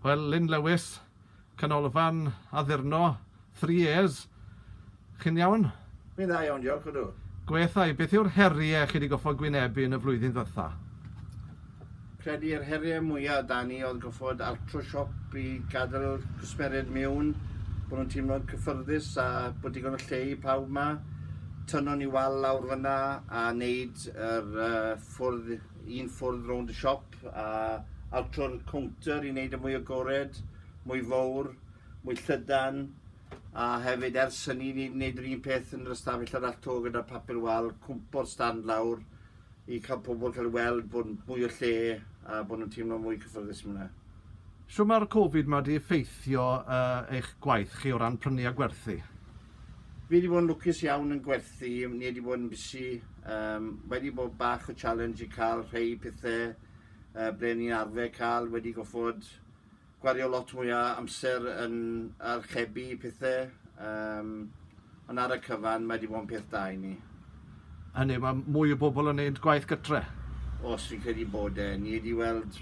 Wel, Lyn Lewis, Canolfan Addurno Three Years, chi'n iawn? Fi'n dda iawn, diolch, ydw. Gweithau, beth yw'r heriau chi di goffod gwynebu yn y flwyddyn ddiwetha? Credu yr heriau mwyaf da ni oedd goffod altro siop i gadael cwsmeriaid miwn, bod nhw'n teimlo'n cyffyrddus a bod digon o lle i pawb ma. Tynon ni wal lawr fyna a wneud yr uh, ffwrdd, un ffwrdd rownd y siop. siop a altro'r cownter i wneud yn e mwy agored, mwy fowr, mwy llydan, a hefyd ers hynny ni wedi gwneud yr un peth yn yr ystafell arall 'to gyda papur wal, cwmpo'r stand lawr i cael pobl cael ei weld bod mwy o lle a bod nhw'n teimlo mwy cyffyrddus mwy 'na. Shwt mae'r Covid 'ma 'di effeithio uh, eich gwaith chi o ran prynu a gwerthu? Fi wedi bod yn lwcus iawn yn gwerthu, ni wedi bod yn busy Yym wedi bod bach o challenge i cael rhei pethe yy ble ni'n arfer cael wedi goffod gwario lot mwy o amser yn archebu pethe yym ond ar y cyfan mae wedi bod yn peth da i ni. Hynny yw mae mwy o bobl yn neud gwaith gytre? Os fi'n credu bod e. Ni wedi weld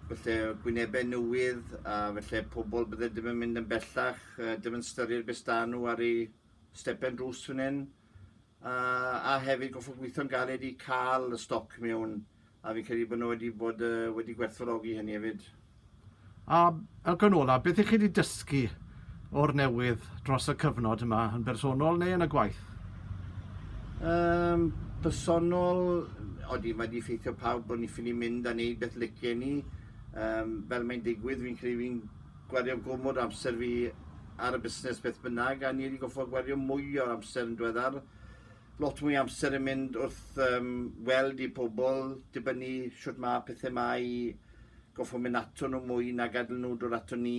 falle gwynebau newydd a falle pobl bydde dim yn mynd yn bellach yy dim yn styried be' sda' nhw ar eu stepen drws fan hyn a, a hefyd goffa gweithio'n galed i cael y stoc mewn a fi'n credu bod nhw wedi bod uh, wedi gwerthfawrogi hynny hefyd. A Elgan Ola, beth ych chi wedi dysgu o'r newydd dros y cyfnod yma yn bersonol neu yn y gwaith? Um, personol, odi mae wedi ffeithio pawb bod ni'n ffili mynd a wneud beth licen ni. Um, fel mae'n digwydd, fi'n credu fi'n Gwario gormod o amser fi ar y busnes beth bynnag, a ni wedi goffod gwario mwy o'r amser yn diweddar. Lot mwy o amser yn mynd wrth um, weld i pobl, dibynnu siwt mae pethau mae goffo mynd ato nhw mwy na gadael nhw dod ato ni,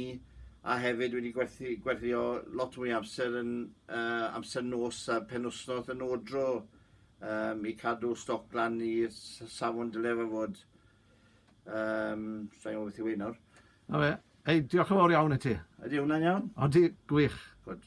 a hefyd wedi gwerthu, gwerio lot mwy amser yn uh, amser nos a penwsnodd yn odro um, i cadw stoc lan i safon dylef a fod. Yym, sa'n gwybod beth yw hyn nawr. Na fe. Hei, diolch yn fawr iawn i ti. Ydy hwnna'n iawn? Odi, gwych. Good.